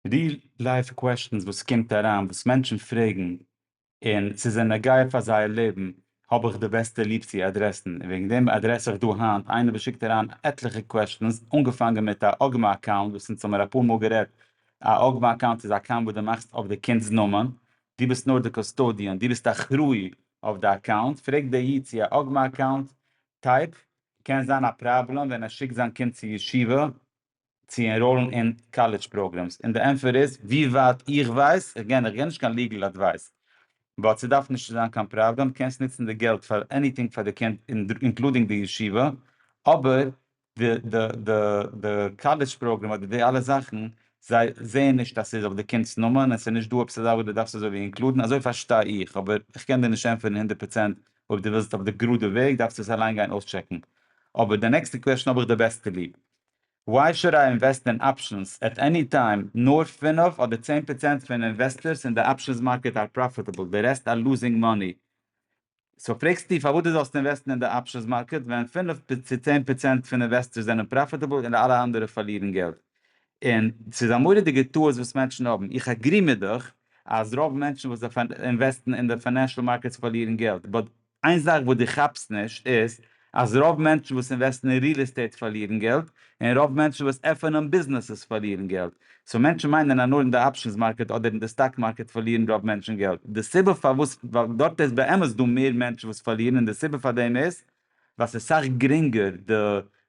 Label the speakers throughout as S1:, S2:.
S1: די לייוו קוועשטענס וואס קומט אריין וואס מענטשן פרעגן און ס'איז א נוגע פאר זייער לעבן האב איך די בעסטע ליב צו אדרעסן און וועגן דעם אדרעס איך דא היינט איינער וואס שיקט אריין עטליכע קוועשטענס אנגעפאנגען מיט א אגמא אקאונט וואס אונז האבן מיר אפאר מאל גערעדט א אגמא אקאונט איז א אקאונט וואס די מאכסט אויף די קינדס נאמען די ביסט נאר די קאסטאדיען די ביסט אחראי אויף די אקאונט פרעגט די איד צו א אגמא אקאונט טייפ קען זיין א פראבלעם ווען ער שיקט זיין קינד צו ישיבה צו ענראלן אין קאלעדזש פראגרעמס און די ענטפער איז ווי ווייט איך ווייס, איך גיי נישט קיין ליגעל אדווייס, באט ס'דארף נישט צו זיין קיין פראבלעם, קענסט נוצן די געלט פאר עניטינג פאר די קינד אינקלודינג די ישיבה, אבער די קאלעדזש פראגרעם אדער די אלע זאכן זיי זעען נישט אז ס'איז אויף די קינד'ס נאמען און ס'נישט דא עפעס אזא וואס די דארפסט אזויווי אינקלודן, אזוי פארשטיי איך, אבער איך קען דיר נישט ענטפערן הונדערט פראצענט, אויב די ווילסט אויף די גראדע וועג דארפסטו עס אליין גיין אויסטשעקן, אבער די נעקסטע קוועשן האב איך די בעסטע ליב. וויי שוד איי אינוועסט אין אפשענס עט עני טיים? נאר פינף אדער צען פראצענט פון אינוועסטערס אין די אפשענס מארקעט אר פראפיטעבל, די רעסט אר לוזינג מאני. סאו פרעגסטו פארוואס דו זאלסט אינוועסטן אין די אפשענס מארקעט ווען פינף צו צען פראצענט פון אינוועסטערס זענען פראפיטעבל און אלע אנדערע פארלירן געלט. און ס'איז א מורא'דיגע טעות וואס מענטשן האבן. איך עגרי מיט דיך אז רוב מענטשן וואס אינוועסטן אין די פיינענשעל מארקעטס פארלירן געלט, באט איין זאך וואס דו כאפסט נישט איז אז רוב מענטשן וואס אינוועסטן אין ריעל עסטעיט פארלירן געלט, און רוב מענטשן וואס עפענען ביזנעסעס פארלירן געלט. סאו מענטשן מיינען אז נאר אין די אפשענס מארקעט אדער אין די סטאק מארקעט פארלירן רוב מענטשן געלט. די סיבה פארוואס ווייל דארט איז באמת דא מער מענטשן וואס פארלירן און די סיבה פאר דעם איז ווייל ס'איז סאך גרינגער, די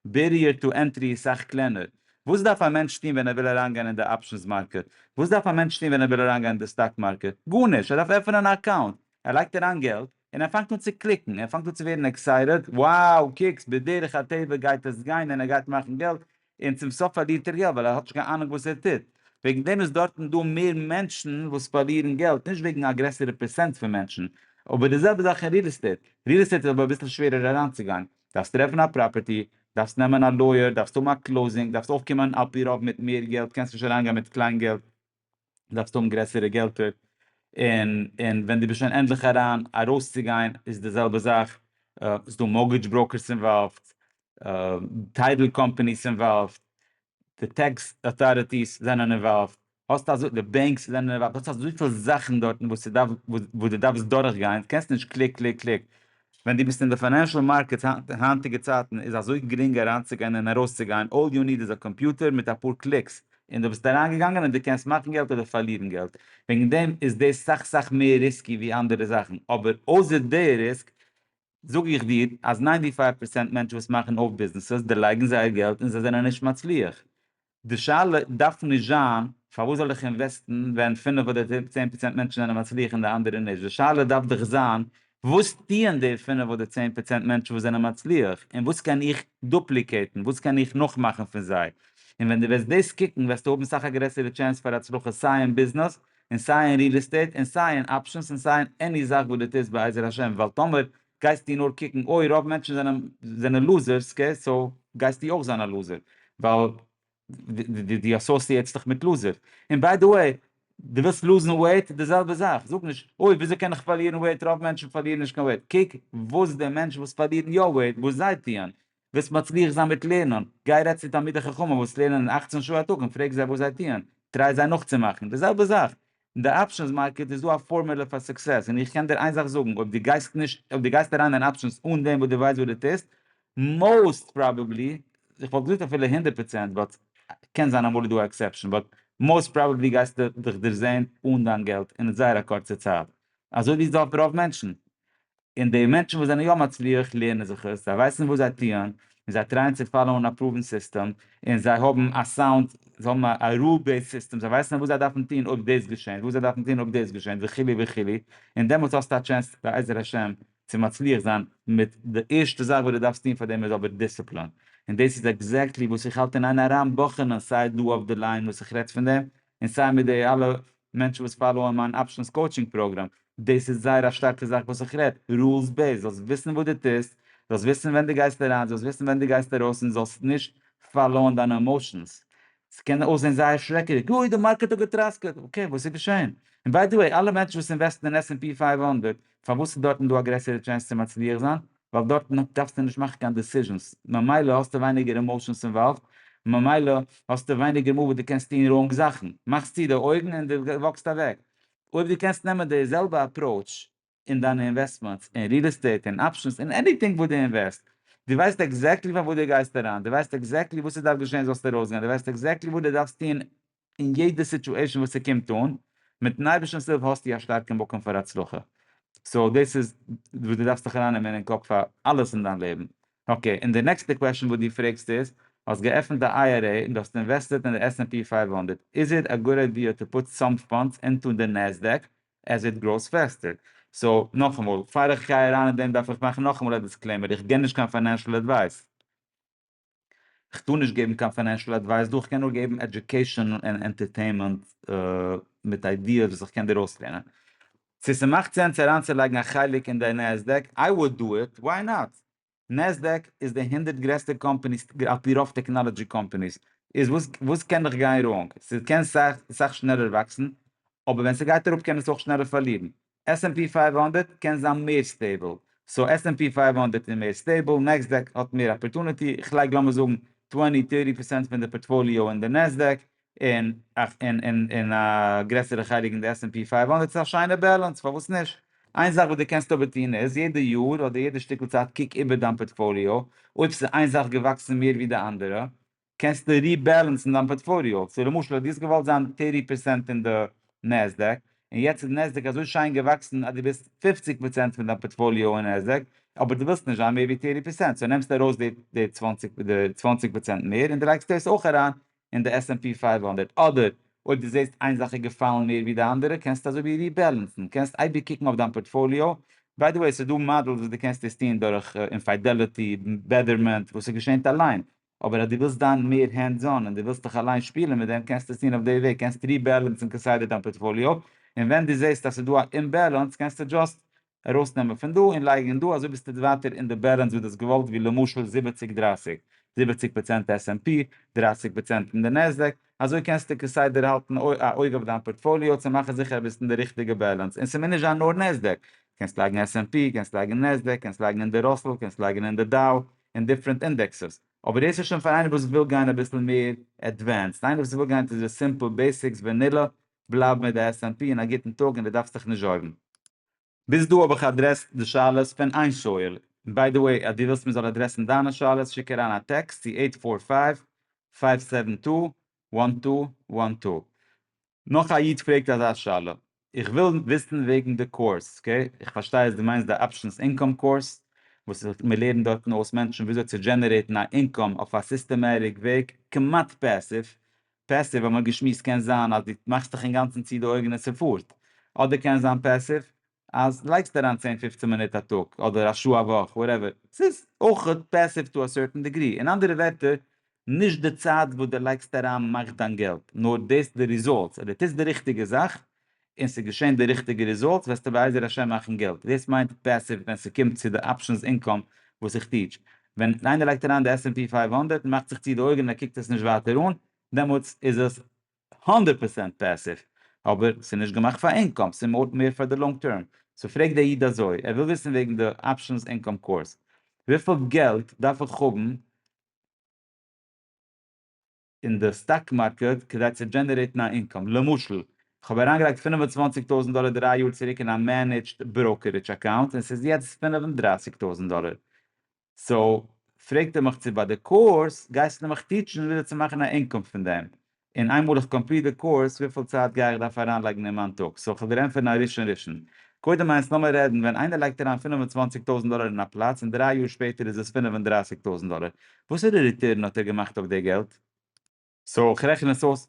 S1: בעריער טו ענטרי איז סאך קלענער. וואס דארף א מענטש טון ווען ער וויל אריינגיין אין די אפשענס מארקעט? וואס דארף א מענטש טון ווען ער וויל אריינגיין אין די סטאק מארקעט? גארנישט! ער דארף עפענען א אקאונט. ער לייגט אריין געלט, און ער פאנגט אן צו קליקן, ער פאנגט אן צו ווערן עקסייטעד, wow קוקס בדרך הטבע גייט עס גיין און ער גייט מאכן געלט, און צום סוף פארלירט ער געלט ווייל ער האט נישט קיין אהנונג וואס ער טוט, וועגן דעם איז דארטן דא מער מענטשן וואס פארלירן געלט, נישט וועגן א גרעסערע פערסענט פון מענטשן, אבער די זעלבע זאך אין ריעל עסטעיט, ריעל עסטעיט איז אבער אביסל שווערער אריינצוגיין, דארפסט טרעפן א פראפערטי, דארפסט נעמען א לויער, דארפסט האבן א קלאוזינג, דארפסט אויפקומען על פי רוב מיט מער געלט, קענסט נישט אריינגיין מיט קליין געלט, דארפסטו האבן גרעסערע געלטער, און און ווען דו ביסט שוין ענדליך אריין, ארויסצוגיין איז די זעלבע זאך, ס'איז דא מארגעדזש בראוקערס אינוואלווד, טייטל קאמפאניס אינוואלווד, די טעקס אוטאריטיס זענען אינוואלווד, האסט אזוי די בענקס זענען אינוואלווד, האסט אזויפיל זאכן דארטן וואס ס'דארף וואס דו דארפסט דורכגיין, קענסט נישט קליק קליק קליק, ווען דו ביסט אין די פיינענשעל מארקעטס היינט אין היינטיגע צייטן איז אזוי גרינג אריינצוגיין און ארויסצוגיין, אלל יו ניד איז א קאמפיוטער מיט אפאר קליקס און דו ביסט אריינגעגאנגען און דו קענסט מאכן געלט אדער פארלירן געלט, וועגן דעם איז דאס סאך סאך מער ריסקי ווי אנדערע זאכן, אבער אויסער די ריסק זאג איך דיר אז ניינטי פייוו פערסענט מענטשן וואס מאכן אויף ביזנעסעס דערלייגן זייער געלט און זיי זענען נישט מצליח, די שאלה דארף נישט זיין פארוואס זאל איך אינוועסטן ווען פינף אדער צען פראצענט מענטשן זענען מצליח און די אנדערע נישט, די שאלה דארף דאך זיין וואס טוען די פינף אדער צען פראצענט מענטשן וואס זענען מצליח און וואס קען איך דופליקעיטן, וואס קען איך נאכמאכן פון זיי, און ווען דו וועסט דאס קוקן וועסטו האבן סאך א גרעסערע טשענס פאר הצלחה סיי אין ביזנעס און סיי אין ריעל עסטעיט און סיי אין אפשענס און סיי אין עני זאך וואס דו טוסט בעזר השם ווייל טאמער גייסטו נאר קוקן אוי רוב מענטשן זענען זענען לוזערס קעי סאו גייסטו אויך זיין א לוזער ווייל די אסאסיעטסט דיך מיט לוזער און ביי די וועי די ווילסט לוזן וועיט די זעלבע זאך זאג נישט אוי וויאזוי קען איך פארלירן וועיט רוב מענטשן פארלירן נישט קיין וועיט קוק וואס די מענטשן וואס פארלירן יא וועיט וואס זיי טוען וועסט מצליח זיין מיט לערנען, גיי רעדט צו תלמידי חכמים וואס לערנען אַכצן שעה א טאג און פרעג זיי וואס זיי טוען, טריי זיי נאכצומאכן, די זעלבע זאך, אין די אפשענס מארקעט איז דא א פארמעלע פאר סוקסעס, און איך קען דיר איין זאך זאגן, אויב דו גייסט נישט, אויב דו גייסט אריין אין אפשענס אן דעם וואס דו ווייסט וואס דו טוסט, מאוסט פראבעבלי, איך וואלט געזאגט אפילו הונדערט פראצענט, באט קען זיין אמאל איז דא א עקסעפשאן, באט מאוסט פראבעבלי גייסטו דיך דערזען אן דיין געלט אין זייער א קורצע צייט, אזוי ווי איז דא אויף רוב מענטשן. און די מענטשן וואס זענען יא מצליח לערנען זיך עס, זיי ווייסן וואס זיי טוען, און זיי טרייען צו פאלאוען א פראווען סיסטעם, און זיי האבן א סאונד, זיי האבן א רול בעיסד סיסטעם, זיי ווייסן וואס זיי דארפן טון אויב דאס געשענט, וואס זיי דארפן טון אויב דאס געשענט, וכו' וכו', און דעמאלטס האסטו א טשענס בעזר השם צו מצליח זיין מיט די ערשטע זאך וואס דו דארפסט טון פאר דעם איז אבער דיסציפלין, און דאס איז עקזעקטלי וואס איך האלט אין איין אריין בחנ'ען סיי דא אויף די ליין וואס איך רעד פון דעם, און סיי מיט די אלע מענטשן וואס פאלאוען מיין אפשנס קאוטשינג פראגראם, דאס איז זייער א שטארקע זאך וואס איך רעד, רולס בעיסד, זאלסט וויסן וואס דו טוסט, זאלסט וויסן ווען דו גייסט אריין, זאלסט וויסן ווען דו גייסט ארויס און זאלסט נישט פאלאוען דיינע עמאושענס. ס'קען אויסזען זייער שרעקעדיג, אוי די מארקעט האט געטראסקעט, אקעי וואס איז געשען? און ביי די וועי אלע מענטשן וואס אינוועסטן אין עס ענד פי פֿינף הונדערט פארוואס איז דארטן דא א גרעסערע טשענס צו מצליח זיין? ווייל דארטן דארפסטו נישט מאכן קיין דעסיזשענס, ממילא האסטו ווייניגער אימאושענס אינוואלווד, ממילא האסטו ווייניגער מאל וואס דו קענסט טון ראונג זאכן, מאכסט צו די אויגן און דו וואקסט אוועק. אויב דו קענסט נעמען די זעלבע אפראוטש אין דיינע אינוועסטמענטס, אין ריעל עסטעיט, אין אפשענס, אין עניטינג וואס דו אינוועסט, דו ווייסט עקזעקטלי פארוואס דו גייסט אריין, דו ווייסט עקזעקטלי וואס עס דארף געשען זאלסטו ארויסגיין, דו ווייסט עקזעקטלי וואס דו דארפסט טון אין יעדע סיטואשען וואס ס'קומט אן, מיטן אייבערשטנ'ס הילף האסטו א שטארקע מקום פאר הצלחה, סאו דאס איז וואס דו דארפסט זיך ארייננעמען אין קאפ פאר אלעס אין דיין לעבן. אקעי, און די נעקסטע קוועשאן וואס דו פרעגסט איז, האסט געעפנט א IRA און דו האסט אינוועסטעד אין די עס ענד פי פייוו הונדערט, איז איט א גוד איידיע טו פוט סאם פאנדס אינטו די נעסדעק עז איט גראוס פעסטער? סאו, נאכאמאל, פאר איך גיי אריין אין דעם דארף איך מאכן נאכאמאל א דיסקלעימער, איך גיב נישט קיין פיינענשאל עדווייס. כ'טאר נישט געבן קיין פיינענשעל עדווייס דא, כ'קען נאר געבן עדיוקעישאן און ענטערטעינמענט מיט איידיעס וואס איך קען דיר אויסלערנען. צו ס'מאכט סענס אריינצולייגן א חלק אין די נעסדעק, איי וואד דא איט, וויי נאט? נעסדעק איז די הונדערט גרעסטע קאמפעניס על פי רוב טעקנאלעדזשי קאמפעניס, איז וואס וואס קען נאך גיין ראנג? ס'קען סאך שנעלער וואקסן, אבער ווען ס'גייט אראפ קען עס אויך שנעלער פארלירן. עס ענד פי פייוו הונדערט קען זיין מער סטעיבל, סאו עס ענד פי פייוו הונדערט איז מער סטעיבל, נעסדעק האט מער אפערטוניטי, איך לייג לאמיר זאגן טווענטי טערטי פערסענט פון די פארטפאליאו אין די נעסדעק, און און א גרעסערע חלק אין די עס ענד פי פייוו הונדערט, ס'איז א שיינע בעלענס, פארוואס נישט? איין זאך וואס דו קענסט אבער טון איז, יעדע יאר אדער יעדע שטיקל צייט קוק איבער דיין פארטפאליאו, אויב ס'איז איין זאך געוואקסן מער ווי די אנדערע, קענסטו ריבעלענסן דיין פארטפאליאו, סאו למשל האט יעצט געוואלט זיין טערטי פערסענט אין די נעסדעק, און יעצט איז נעסדעק אזוי שיין געוואקסן אז דו ביסט פופציג פראצענט פון דיין פארטפאליאו אין נעסדעק, אבער דו ווילסט נישט זיין מער ווי טערטי פערסענט, סאו נעמסטו ארויס די די צוואנציג די צוואנציג פראצענט מער, און דו לייגסט דאס אויך אריין אין די עס ענד פי פֿינף הונדערט, אדער אויב דו זעסט איין זאך איז געפאלן מער ווי די אנדערע, קענסטו אזוי ווי ריבעלענסן, קענסט אייביג קוקן אויף דיין פארטפאליאו, ביי די וועי ס'איז דא מאדעלס וואס דו קענסט עס טון דורך אינפיידעליטי, בעדערמענט, וואס ס'געשענט אליין, אבער אז דו ווילסט זיין מער הענדס אן און דו ווילסט דיך אליין שפילען מיט דעם קענסטו עס טון אויף די וועג, קענסט ריבעלענסען כסדר דיין פארטפאליאו, און ווען דו זעסט אז ס'איז דא א אומבעלענס קענסטו דזשאסט ארויסנעמען פון דא און לייגען אין דא אזוי ביסטו ווייטער אין די בעלענס וואס דו האסט געוואלט ווי למשל זיבעציג דרייסיג, זיבעציג פראצענט עס ענד פי, דרייסיג פראצענט אין די נעסדעק, אזוי קענסטו כסדר האלטן א אויג אויף דיין פארטפאליאו צו מאכן זיכער ביסט אין די ריכטיגע באלאנס און ס'מוז נישט זיין נאר נעסדעק, קענסט לייגן עס ענד פי, קענסט לייגן נעסדעק, קענסט לייגן אין די ראסל, קענסט לייגן אין די דאו, אין דיפרענט אינדעקסעס, אבער דאס איז שוין פאר איינער וואס וויל גיין אביסל מער עדווענסד, איינער וואס וויל גיין טו די סימפל בעסיקס ווענילא, בלייב מיט די עס ענד פי און א גוטן טאג און די דארפסט דיך נישט זארגן. ביז דא האב איך אדרעסט די שאלות פון איין שואל, און ביי די וועי אז דו ווילסט מען זאל אדרעסן דיינע שאלות שיק אריין א טעקסט צו עיט פאר פייוו פייוו סעווען טו וואן טו וואן טו. נאך א איד פרעגט אזא שאלה, איך וויל וויסן וועגן די קורס, אקעי איך פארשטיי אז דו מיינסט די אפשענס אינקאם קורס וואס מען לערנט דארטן אויס מענטשן וויאזוי צו דזשענערעיטן א אינקאם אויף א סיסטעמעטיק וועג כמעט פעסיוו פעסיוו האבן מיר געשמועסט קען זיין אז דו מאכסט דיך אינגאנצן צו די אויגן און ס'פארט. אדער קען זיין פעסיוו אז לייגסט אריין צען פופצן מינוט א טאג אדער א שעה א וואך וואטעווער. ס'איז אויך פעסיוו טו א סערטען דעגרי. אין אנדערע ווערטער, נישט די צייט וואס דו לייגסט אריין מאכט דיין געלט, נאר דאס די רעזאלטס. אז דו טוסט די ריכטיגע זאך און ס'איז געשען די ריכטיגע ריזאלטס וועסטו בעזר השם מאכן געלט, דאס מיינט פעסיוו ווען ס'קומט צו די אפשענס אינקאם וואס איך טיעטש, ווען איינער לייגט אריין די עס ענד פי פֿינף הונדערט און מאכט זיך צו די אויגן און ער קוקט עס נישט ווייטער אן, דעמאלטס איז עס הונדערט פראצענט פעסיוו, אבער ס'איז נישט געמאכט פאר אינקאם, ס'איז מוט מער פאר די לאנג טערם, סאו פרעגט דער איד אזוי, ער וויל וויסן וועגן די אפשענס אינקאם קורס, וויפיל געלט דארף איך האבן, אין די סטאק מארקעט כדי צו דזשענערעיטן א אינקאם, למשל כ'האב אריינגעלייגט פֿינף און צוואַנציק טויזנט דאלער דרײַ יאר צוריק אין א מענעדזשד בראוקערידזש אקאונט און ס'איז יעצט פֿינף און דרײַסיק טויזנט דאלער, סאו פרעגט ער מיך צו ביי די קורס גייסטו מיך טיטשן וויאזוי צו מאכן א אינקאם פון דעם, און איינמאל איך קאמפליט די קורס וויפיל צייט גיי איך דארף אריינלייגן אין מיין טאג, סאו כ'וועל דיר ענטפערן א ראשון ראשון. קודם איינס לאמיר רעדן ווען איינער לייגט אריין פֿינף און צוואַנציק טויזנט דאלער אין א פלאץ און דרײַ יאר שפעטער איז עס פֿינף און דרײַסיק טויזנט דאלער, וואסערע ריטערן האט ער געמאכט אויף די געלט? סאו איך רעכן עס אויס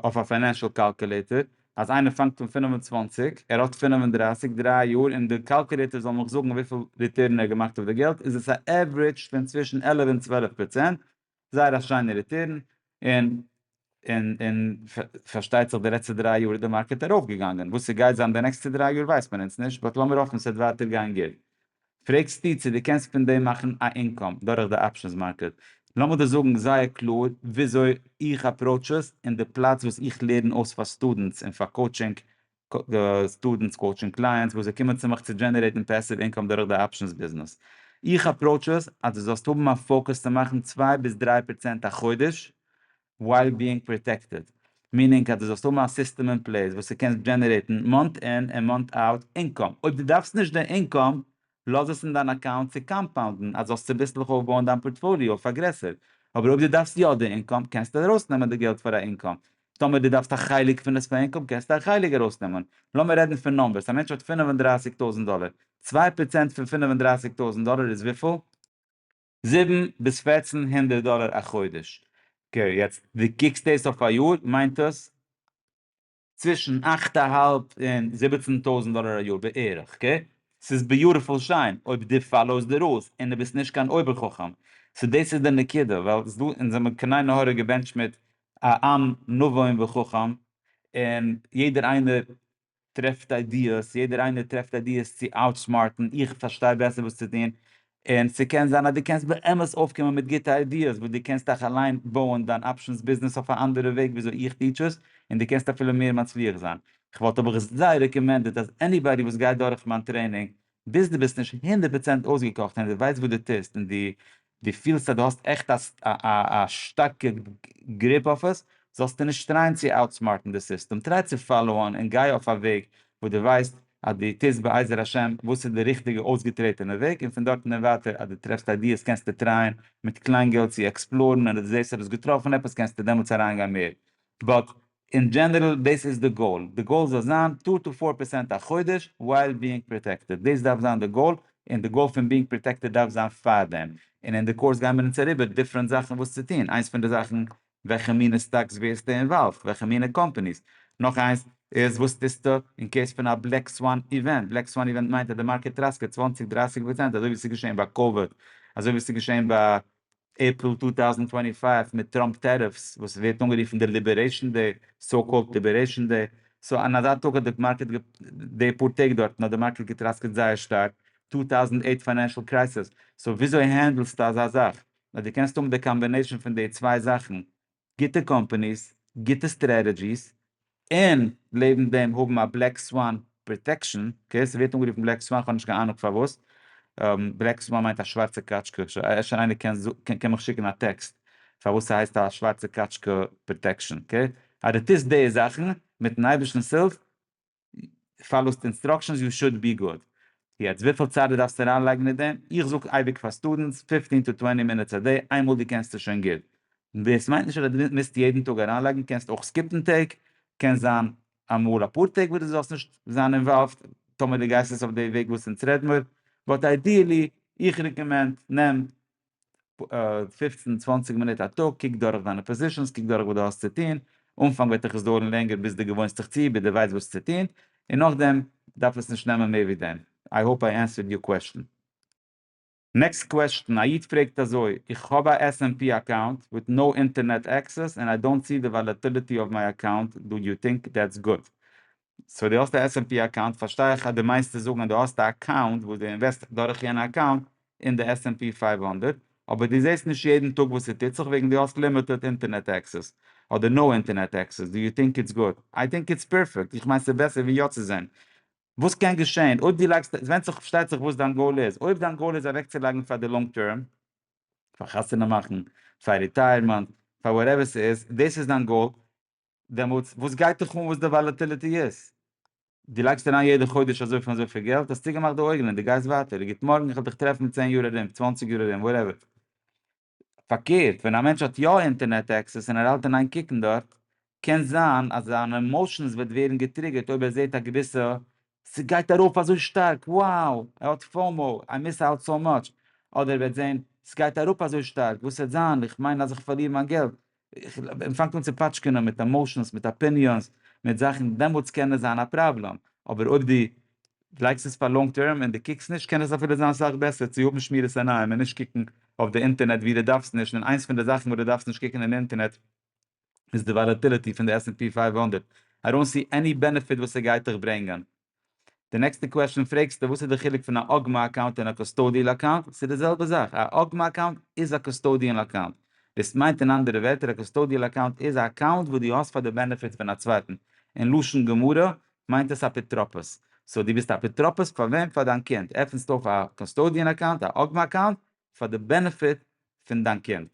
S1: אויף א פיינענשעל קאלקולעטער אז איינער פאנגט אן פֿינף און צוואַנציק ער האט פֿינף און דרײַסיק דריי יאר און די קאלקולעטער זאל מיך זאגן וויפיל ריטערן ער האט געמאכט אויף די געלט איז עס א עוורעדזש פון צווישן עלף און צוועלף פראצענט זייער א שיינע ריטערן און און און פארשטייט זיך די לעצטע דריי יאר איז די מארקעט ארויף געגאנגען, וואס ס'גייט זיין די נעקסטע דריי יאר ווייסט מען אונז נישט, באט לאמיר האפן ס'וועט ווייטער גיין גוט. פרעגסטו צו דו קענסט פון דעם מאכן א אינקאם דורך די אפשענס מארקעט, לאמיר דיר זאגן זייער קלאר וויאזוי איך אפראוטש עס און די פלאץ וואס איך לערן אויס פאר סטודענטס און פאר קאוטשינג סטודענטס, קאוטשינג קלייענטס וואס זיי קומען צו מיך צו דזשענערעיטן פעסיוו אינקאם דורך די אפשענס ביזנעס. איך אפראוטש עס אז דו זאלסט האבן א פאוקוס צו מאכן צוויי ביז דריי פראצענט א חודש ווייל ביאינג פראטעקטעד. מינינג אז דו זאלסט האבן א סיסטעם אין פלעיס וואס דו קענסט דזשענערעיטן מאנט אין און מאנט אוט אינקאם. אויב דו דארפסט נישט די אינקאם לאז עס אין דיין אקאונט צו קאמפאונדן אז זאלסט צוביסלעך אויפבויען דיין פארטפאליאו, פארגרעסער, אבער אויב דו דארפסט יא די אינקאם קענסטו ארויסנעמען די געלט פאר א אינקאם, טאמער דו דארפסט א חלק פון עס פאר אינקאם קענסטו א חלק ארויסנעמען, לאמיר רעדן פון נומבערס, א מענטש האט פֿינף און דרײַסיק טויזנט דאלער, צוויי פראצענט פון פֿינף און דרײַסיק טויזנט דאלער איז וויפיל? זיבן ביז פֿערצן הונדערט דאלער א חודש, אקעי יעצט דו קוקסט דאס אויף א יאר מיינט עס. צווישן אכט א האלב און זיבעצן טויזנט דאלער א יאר בערך קע, ס'איז ביוטיפול שיין אויב דו פאלאוסט די רולס און דו ביסט נישט קיין אויבער חכם, סאו דאס איז די נקודה ווייל ס'איז דא אונז זעמיר כעניי נהורא געבענטשט מיט א עם נבון וחכם און יעדער איינער טרעפט איידיעס, יעדער איינער טרעפט איידיעס צו אוטסמארטן, איך פארשטיי בעסער וואס צו טון, און ס'קען זיין אז דו קענסט באמת אויפקומען מיט גוטע איידיעס וואס דו קענסט אויך אליין בויען דיין אפשענס ביזנעס אויף א אנדערע וועג ווי אזוי איך טיטש עס, און דו קענסט אפילו מער מצליח זיין. כ'וואלט אבער זיי רעקאמענדעד אז עניבאדי וואס גייט דורך מיין טרעינינג, ביז דו ביסט נישט הונדערט פראצענט אויסגעקאכט און דו ווייסט וואס דו טוסט און דו דו פילסט אז דו האסט עכט א א שטארקע גריפ אויף עס, זאלסטו נישט טרייען צו אוטסמארטן די סיסטעם, טריי צו פאלאוען און גיי אויף א וועג וואס דו ווייסט אז דו טוסט בעזר השם וואס איז די ריכטיגע אויסגעטרעטענע וועג און פון דארטן און ווייטער אז דו טרעפסט איידיעס קענסטו טרייען מיט קליין געלט צו עקספלארן און אז דו זעסט אז דו האסט געטראפן עפעס קענסטו דעמאלטס אריינגיין מער באט אין דזשענערל דאס איז די גאול, די גאול זאל זיין טו טו פאר פערסענט א חודש ווייל ביאינג פראטעקטעד, דאס דארף זיין די גאול און די גאול פון ביאינג פראטעקטעד דארף זיין פארדעם און אין די קורס גייען מיר אונז אריבער דיפרענט זאכן וואס צו טון, איינס פון די זאכן וועלכע מינע סטאקס ווערסטו אינוואלווד? וועלכע מינע קאמפעניס? נאך איינס איז וואס טוסטו אין קעיס פון א בלעק סוואן איווענט? בלעק סוואן איווענט מיינט אז די מארקעט טראסקעט צוואַנציק דרייסיג פראצענט אזוי ווי ס'איז געשעהן ביי קאוויד, אזוי ווי ס'איז געשעהן ביי עפריל צוויי טויזנט פֿינף און פֿינף מיט טראמפ טעריפס וואס ווערט אנגערופן די ליבערעישן דעי, סאו קאלד ליבערעישן דעי, סאו אין אזא טאג האט די מארקעט די פאר טעג דארטן האט די מארקעט געטראסקעט זייער שטארק, טו טאוזענט עיט פיינענשעל קרייסעס, סאו וויאזוי הענדלסטו אזא זאך? נאר דו קענסט האבן די קאמבינעישאן פון די צוויי זאכן, גוטע קאמפאניס, גוטע סטרעטעדזשיס, און לעבן דעם האבן א בלעק סוואן פראטעקשאן, אקעי, ס'ווערט אנגערופן בלעק סוואן, כ'האב נישט קיין אהנונג פארוואס, בלעק סוואן מיינט א שווארצע קאטשקע, אפשר איינער קען מיך שיקן א טעקסט פארוואס ס'הייסט א שווארצע קאטשקע פראטעקשאן, אקעי, אז דו טוסט די זאכן, מיט'ן אייבערשטנ'ס הילף, פאלאוסט אינסטראקשענס יו שוד בי גוד. יעצט וויפיל צייט די דארפסט אריין לייגן אין דעם, איך זאג אייביג פאר סטודענטס פיפטין טו טווענטי מינוטס א דעי, איינמאל דו קענסט עס שוין גוט. דאס מיינט נישט אז דו מוזט יעדן טאג אריין לייגן, קענסט אויך סקיפן טעג, קען זיין אמאל אפאר טעג וואס דו זאלסט נישט זיין אינוואלווד, טאמער דו גייסט עס אויף די וועג וואס אונז רעדן מיר, באט איידיעלי איך רעקאמענד נעם פֿופֿצן צוואַנציק מינוט א טאג, קוק דורך דיינע פאזישאנס, קוק דורך וואס דו האסט צו טון, אנפאנג וועט דיך עס דויערן לענגער ביז דו געוואוינסט דיך צו, ביז דו ווייסט וואס צו טון, און נאכדעם דארף עס נישט נעמען מער ווי דעם. איי האופ איי ענסווערד יור קוועסטשן. נעקסט קוועסטשן, א איד פרעגט אזוי, איך האב א SMP אקאונט וויט נאו אינטערנעט עקסעס, ענד איי דאנט סי די וואלעטיליטי אוו מיי אקאונט, דו יו טינק דעטס גוד? סאו דו האסט א עס ענד פי אקאונט, פארשטיי איך אז דו מיינסט צו זאגן אז דו האסט א אקאונט וואס דו אינוועסט דורך יענע אקאונט אין די עס ענד פי פֿינף הונדערט, אבער דו זעסט נישט יעדן טאג וואס ס'טוט זיך וועגן דו האסט לימיטעד אינטערנעט עקסעס, אדער נאו אינטערנעט עקסעס, דו יו טינק איטס גוד? איי טינק איטס פערפעקט, איך מיין ס'איז בעסער ווי יא צו זען. וואס קען געשען אויב דו לייגסט, ס'ווענדט זיך פארשטייט זיך וואס דיין גאול איז, אויב דיין גאול איז אוועקצולייגן פאר די לאנג טערם, פאר חתונה מאכן, פאר ריטייערמענט, פאר וואטעווער ס'איז, דאס איז דיין גאול, דעמאלטס וואס גייט דיך אן וואס די וואלעטיליטי איז? דו לייגסט אריין יעדע חודש אזויפיל און אזויפיל געלט, האסט צוגעמאכט די אויגן און דו גייסט ווייטער, גוט מארגן איך וועל דיך טרעפן אין צען יאר ארום, צוואנציג יאר ארום, וואטעווער. פארקערט, ווען א מענטש האט יא אינטערנעט עקסעס און ער האלט אין איין קוקן דארט, קען זיין אז זיינע עמאושענס וועט ווערן געטריגערט אויב ער זעט א געוויסע ס'גייט ארויף אזוי שטארק, wow, ער האט פאומאו, איי מיס אוט סאו מאטש, אדער ער וועט זען, ס'גייט אראפ אזוי שטארק, וואס וועט זיין, איך מיין אז איך פארליר מיין געלט, און פאנגט אן צו פאטשקענען מיט עמאושענס, מיט אפיניאנס, מיט זאכן, דעמאלטס קען עס זיין א פראבלעם, אבער אויב דו לייגסט עס פאר לאנג טערם און דו קוקסט נישט, קען עס אפילו זיין סאך בעסער צו האבן שמירת עיניים און נישט קוקן אויף די אינטערנעט וואו דו דארפסט נישט, און איינס פון די זאכן וואס דו דארפסט נישט קוקן אין אינטערנעט איז די וואלעטיליטי פון די עס ענד פי פֿינף הונדערט, איי דאנט סי עני בענעפיט וואס עס גייט דיך ברענגען. די נעקסטע קוועשאן פרעגסטו וואס איז די חילוק פון א אגמא אקאונט און א קוסטאדיעל אקאונט, ס'איז די זעלבע זאך, א אגמא אקאונט איז א קוסטאדיעל אקאונט, דאס מיינט אין אנדערע ווערטער א קוסטאדיעל אקאונט איז א אקאונט וואס דו האסט פאר די בענעפיט פון א צווייטן, אין לשון גמרא מיינט עס אפיטרופוס, סאו דו ביסט אפיטרופוס פאר וועם? פאר דיין קינד, עפנסט אויף א קוסטאדיען אקאונט, א אגמא אקאונט, פאר די בענעפיט פון דיין קינד.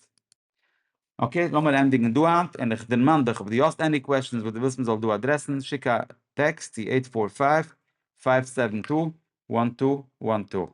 S1: אקעי, לאמיר ענדיגן דא היינט, און איך דערמאן דיך אויב דו האסט עני קוועשאנס וואס דו ווילסט מען זאל דא אדרעסן, שיק א טעקסט צו עיט פאר פייוו, פייוו סעווען טו, וואן טו, וואן טו.